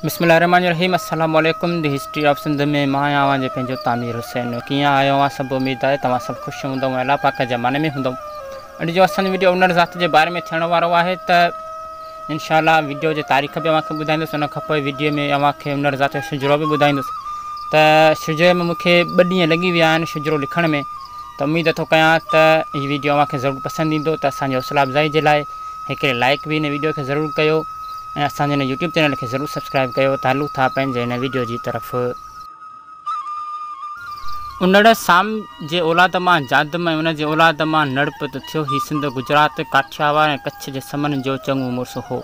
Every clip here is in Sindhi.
بسم الله الرحمٰن الرحيم السلام عليڪم دي هسٽري آف سنڌ ۾ مان آهيان اوهان جو پنهنجو تعمير حسين ڪيئن آهيو اوهان سڀ اميد آهي توهان سڀ خوش هوندؤ ۽ الله پاڪ جي امان ۾ هوندؤ اڄ جو اسان جو ويڊيو انڙ ذات جي باري ۾ ٿيڻ وارو آهي ته انشاء الله ويڊيو جي تاريخ به اوهان کي ٻڌائيندس ان کان پوء ويڊيو ۾ اوهان کي انڙ ذات جو شجرو به ٻڌائيندس ته شجري ۾ مون کي ٻه ڏينهن لڳي ويا آهن شجرو لکڻ ۾ ته اميد ٿو ڪيان ته هي ويڊيو اوهان کي ضرور پسند ايندو ته اسان جي حوصلا افزائي جي لاء هڪڙي لائيڪ به هن ويڊيو کي ضرور ڪيو ۽ اسان جي هن يوٽيوب چينل کي ضرور سبسڪرائيب ڪيو ته هلون ٿا پنهنجي هن ويڊيو جي طرف انڙ سام جي اولاد مان جادم ۽ ان جي اولاد مان نڙ پت ٿيو هي سنڌ گجرات ڪاٺياوار ۽ ڪڇ جي سمن جو چڱو مڙس هو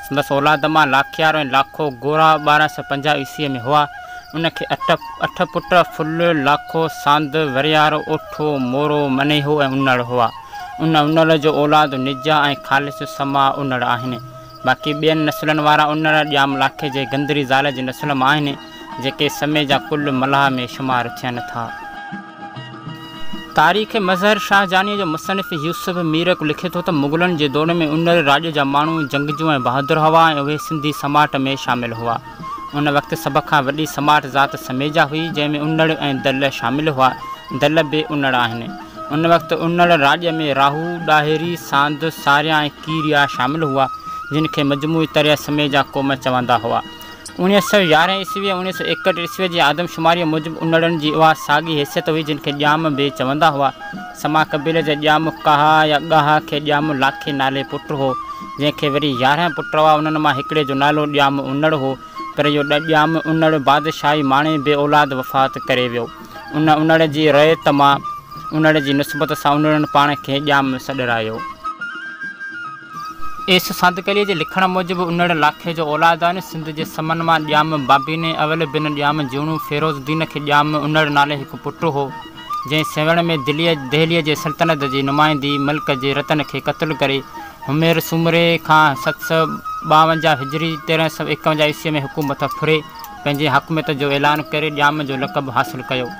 سندس اولاد مان لاکيارو ۽ لاکو گورا ٻارهن سؤ پنجاهه عيسويء ۾ هئا. ان کي اٺ پٽ ڦل، لاکو، ساند، وريارو، اوٺو، مورو، منيهو ۽ انڙ هئا. ان انڙ جو اولاد نجا ۽ خالص سما انڙ آهن. باقي ٻين نسلن وارا انڙ ڄام لاکي جي گندري زال جي نسل مان آهن، جيڪي سمي جا ڪل ملاح ۾ شمار ٿين ٿا. تاريخ مظهر شاهه جانيء جو مصنف يوسف ميرڪ لکي ٿو ته مغلن جي دور ۾ انڙ راڄ جا ماڻهو جنگجو ۽ بهادر هوا ۽ اهي سنڌي سماٽ ۾ شامل هوا. ان وقت سڀ کان وڏي سماٽ ذات سميجا هئي، جنهن ۾ انڙ ۽ دل شامل هئا. دل به انڙ آهن. ان وقت انڙ راڄ ۾ راهو، ڏاهري، ساند، ساريا ۽ ڪيريا شامل هئا، جن کي مجموعي طرح سميجا قوم چوندا هئا. اوڻيھ سؤ يارهن عيسوي ۽ اوڻيھ سؤ ايڪهٺ عيسوي جي آدم شماريء موجب انڙن جي اها ساڳي حيثيت هئي جن کي ڄام بي چوندا هئا. سما قبيلي جي ڄام ڪاها يا ڳاها کي ڄام لاکي نالي پٽ هو، جنهن کي وري يارهن پٽ هئا، انهن مان هڪڙي جو نالو ڄام انڙ هو، پر اهو ڄام انڙ بادشاهي ماڻي بي اولاد وفات ڪري ويو. ان انڙ جي رعيت مان انڙ جي نسبت سان انڙن پاڻ کي ڄام سڏرايو. ايس ساندڪليء جي لکڻ موجب انڙ لاکي جو اولادائين سنڌ جي سمن مان ڄام بابين ۽ اول بن ڄام جوڻو فيروز الدين کي ڄام انڙ نالي هڪ پٽ هو جنهن سيوهڻ ۾ دهليء جي سلطنت جي نمائندي ملڪ جي رتن کي قتل ڪري همير سومري کان ست سؤ ٻاونجاهه هجري تيرنهن سؤ ايڪونجاهه عيسويء ۾ حڪومت ڦري پنهنجي حاڪميت جو اعلان ڪري ڄام جو لقب حاصل ڪيو.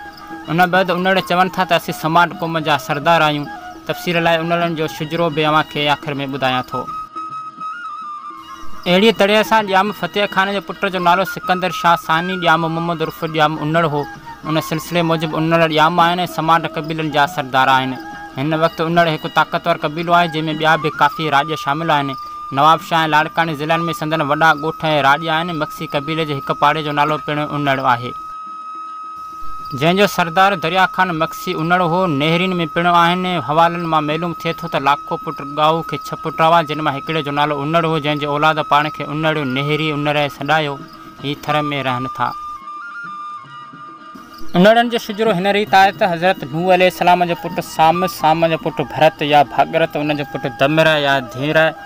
ان بعد انڙ چون ٿا ته اسين سماٽ قوم جا سردار آهيون. تفسير لاء انڙن جو شجرو به اوهان کي آخر ۾ ٻڌايان ٿو. اهڙيء طرح سان ڄام فتح خان جي پٽ جو نالو سڪندر شاهه ثاني ڄام محمد عرف ڄام انڙ هو. ان سلسلي موجب انڙ ڄام آهن ۽ سماٽ قبيلن جا سردار آهن. هن وقت انڙ هڪ طاقتور قبيلو آهي جنهن ۾ ٻيا به ڪافي راڄ شامل آهن. نوابشاهه ۽ لاڙڪاڻي ضلعن ۾ سندن وڏا ڳوٺ ۽ راڄ آهن. مگسي قبيلي جي هڪ پاڙي جو نالو پڻ انڙ آهي. جنهن جو سردار دريا خان مگسي انڙ هو. نهرين ۾ پڻ آهن. حوالن مان معلوم ٿئي ٿو ته لاکو پٽ ڳائو کي ڇهه پٽ هئا، جن مان هڪڙي جو نالو انڙ هو، جنهن جي اولاد پاڻ کي انڙ، نهري، انرئي سڏايو. هي ٿر ۾ رهن ٿا. انڙن جو شجرو هن ريت آهي ته حضرت نوح عليه السلام جو پٽ سام، سام جو پٽ ڀرت يا ڀاڳرت، ان جو پٽ دمرئه يا ڌيمرئه،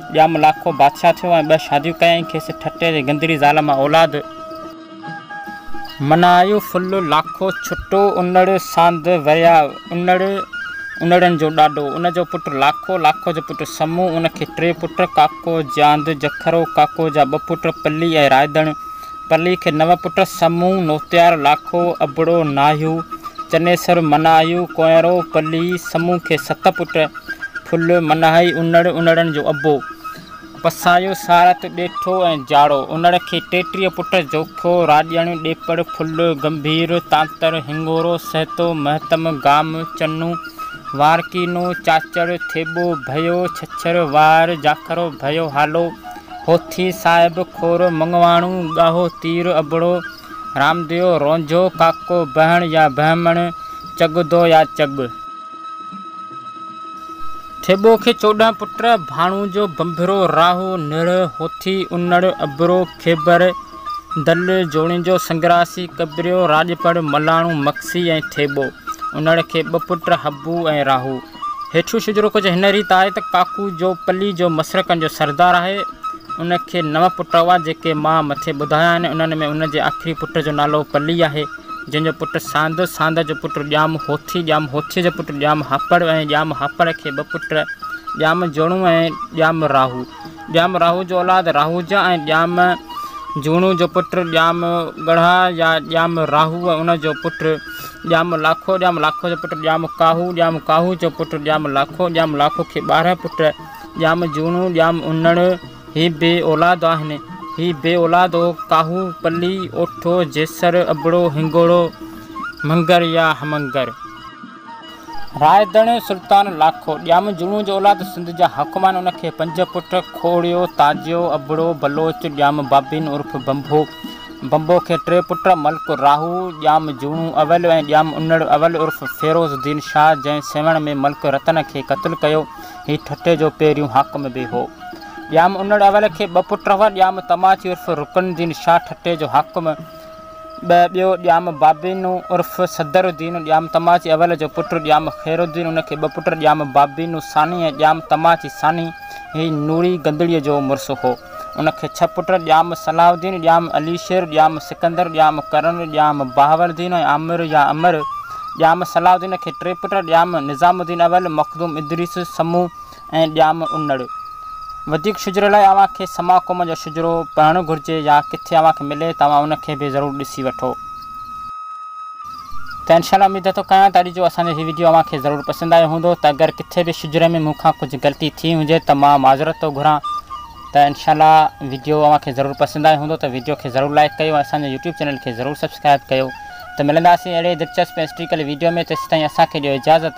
ڄام لاکو بادشاهه ٿيو ۽ ٻه شاديون ڪيائين. کيس ٺٽي جي گندڙي زال مان اولاد. منايو ڦل لاکو ڇٽو انڙ ساند وريا انڙ انڙن جو ڏاڏو. ان جو پٽ لاکو، لاکو جو پٽ سمون، ان کي ٽي پٽ، ڪاڪو، جياند، جکرو، ڪاڪو جا ٻه پٽ پلي ۽ رائدڻ. پلي کي نو پٽ، سمو، نوتيار، لاکو، ابڙو، ناهيو، چنيسر، مناهيو، ڪونئرو، پلي، سمو کي ست پٽ، ڦل، مناهي، انڙ، انڙن جو ابو، پسايو، سارت، ڏيٺو ۽ جاڙو. انڙ کي ٽيٽيهه پٽ، جوکو، راڄڻ، ڏيپڙ، ڦل، گنڀير، تانتر، هنڱورو، سهتو، مهتم، گام، چنو، وارڪينو، چاچڙ، ٿيٻو، ڀيو، ڇڇر، وار، جاکرو، ڀيو، هالو، هوٿي صاحب، کورو مڱواڻو، ڳاهو تير، ابڙو، رامديو، رونجهو، ڪاڪو، بهڻ يا بهمڻ، چڳدو يا چڳ. ٿيٻو کي چوڏهن پٽ، ڀاڻوجو، ڀنڀرو، راهو، نڙ، هوٿي، انڙ، ابڙو، کيبر، دل، جوڻيجو، سنگراسي، ڪٻريو، راڄپڙ، ملاڻو، مگسي ۽ ٿيٻو. انڙ کي ٻه پٽ، حبو ۽ راهو. هيٺيون شجرو ڪجهه هن ريت آهي ته ڪاڪو جو پلي جو مسرڪن جو سردار آهي ان کي نو پٽ هئا جيڪي مان مٿي ٻڌايا آهن انهن ۾ ان جي آخري پٽ جو نالو پلي آهي جنهن جو پٽ ساند ساند جو پٽ ڄام هوٿي ڄام هوٿي جو پٽ ڄام هاپڙ ۽ ڄام هاپڙ کي ٻه پٽ ڄام جوڻو ۽ ڄام راهو ڄام راهو جو اولاد راهوجا ۽ ڄام جوڻو جو پٽ ڄام ڳڙها يا ڄام راهو ان جو پٽ ڄام لاکو ڄام لاکو جو پٽ ڄام ڪاهو ڄام ڪاهو جو پٽ ڄام لاکو ڄام لاکو کي ٻارهن پٽ ڄام جوڻو ڄام انڙ هي بي اولاد آهن هي بي اولاد هو ڪاهو پلي اوٺو جيسر ابڙو هنگوڙو مڱر يا همنگر. رائيدڻ سلطان لاکو ڄام جوڻو جو اولاد سنڌ جا حاڪمان ان کي پنج پٽ کوڙيو، تاجيو، ابڙو، بلوچ، ڄام بابين عرف بنڀو، بنڀو کي ٽي پٽ ملڪ راهو، ڄام جوڻو اول ۽ ڄام انڙ اول عرف فيروز الدين شاهه جنهن سيوهڻ ۾ ملڪ رتن کي قتل ڪيو هي ٺٽي جو پهريون حاڪم به هو. ڄام انڙ اول کي ٻه پٽ هئا ڄام تماچي عرف رڪن الدين شاهه ٺٽي جو حاڪم، ٻه، ٻيو ڄام بابينو عرف صدر الدين ڄام تماچي اول جو پٽ ڄام خير الدين ان کي ٻه پٽ ڄام بابينو ثاني ۽ ڄام تماچي ثاني هي نوري گندڙيء جو مڙس هو ان کي ڇهه پٽ ڄام صلاح الدين ڄام علي شير ڄام سڪندر ڄام ڪرڻ ڄام بهاول الدين ۽ عامر يا امر ڄام صلاح الدين کي ٽي پٽ ڄام نظام الدين اول مخدوم ادريس سمون ۽ ڄام انڙ. وڌيڪ شجري لاء اوهان کي سما قوم جو شجرو پڙهڻ گهرجي يا ڪٿي اوهان کي ملي ته اوهان ان کي به ضرور ڏسي وٺو. ته انشاء الله اميد ٿو ڪيان ته اڄ جو اسان جو هي وڊيو اوهان کي ضرور پسند آيو هوندو ته اگر ڪٿي به شجري ۾ مون کان ڪجهه غلطي ٿي هجي ته مان معذرت ٿو گهران ته انشاء الله وڊيو اوهان کي ضرور پسند آيو هوندو ته وڊيو کي ضرور لائيڪ ڪيو ۽ اسان جي يوٽيوب چينل کي ضرور سبسڪرائيب ڪيو ته ملنداسين اهڙي دلچسپ ۽ هسٽريڪل وڊيو ۾ تيسيتائين اسان کي ڏيو اجازت.